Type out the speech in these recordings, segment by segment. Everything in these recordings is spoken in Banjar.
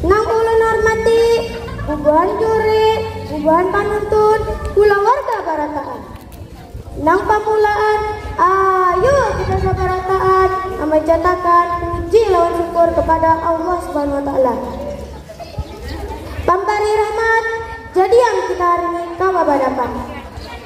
Nang ulun hormati, bubuhan juri, bubuhan panuntun, kulawarga barataan. Nang pamulaan, ayu kita sabarataan mamanjatakan puji lawan syukur kepada Allah Subhanahu Wa Taala, Pampari Rahmat, jadiam kita hari ini kawa badapat.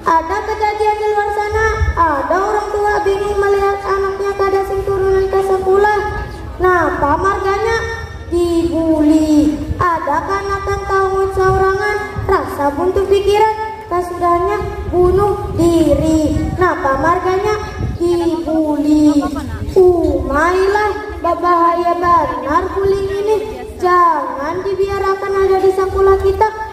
Ada kejadian di luar sana, ada urang tua bingung melihat anaknya kada sing turunan ka sakulah. Napa marganya? Dibuli. Ada kanakan taungut saurangan, rasa buntu pikiran, kasudahnya bunuh diri. Napa marganya? Dibuli. Umai lah, babahaya banar buli ngini, jangan dibiarakan ada di sakulah kita.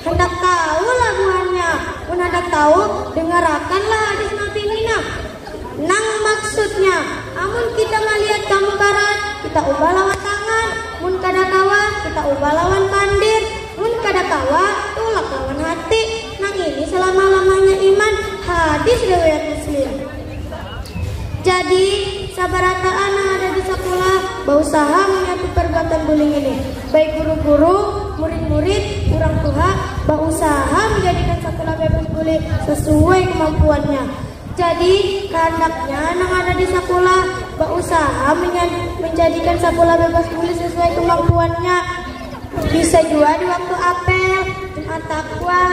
Handak tahu lah buhannya? Mun handak tahu, dengarakan lah hadis Nabi ini nah. Nang maksudnya, amun kita malihat kamukaran, kita ubah lawan tangan, mun kada kawa, kita ubah lawan pandir, mun kada kawa, tulak lawan hati. Nang ini selama-lamanya iman. Hadis riwayat Muslim. Jadi, sabarataan nang ada di sakulah bausaha manyatu parbuatan buling ini. Baik guru-guru, murid-murid, urang tuha, bausaha manjadikan sakulah bebas buling sasuai kamampuannya. Jadi, kahandaknya nang ada di sakulah bausaha manjadikan sakulah bebas buling sasuai kamampuannya. Bisa jua di waktu apel, Jumat Takwa.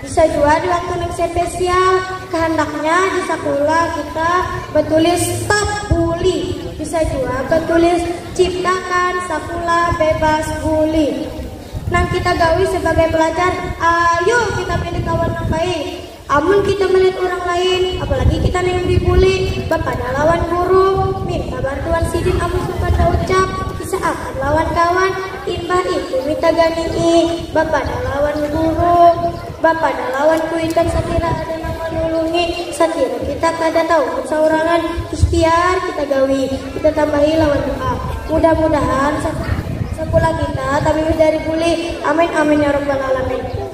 Bisa jua di waktu neng spesial. Kehendaknya di sakula kita betulis stop bully. Bisa jua betulis ciptakan sakula bebas bully. Nang kita gawi sebagai pelajar, ayu kita pilih kawan nang baik. Amun kita melihat urang lain, apalagi kita nang dibuli, bapadah lawan guru, minta bantuan sidin amun supan baucap, kisah akan lawan kawan, imbah itu minta ganii, bapadah lawan guru, bapadah lawan kuitan sakira ada nang manulungi, sakira kita kada tauhid saurangan, ikhtiar kita gawi, kita tambahi lawan doa, mudah-mudahan sakulah kita tabibis dari buli, amin amin ya rabbal alamin.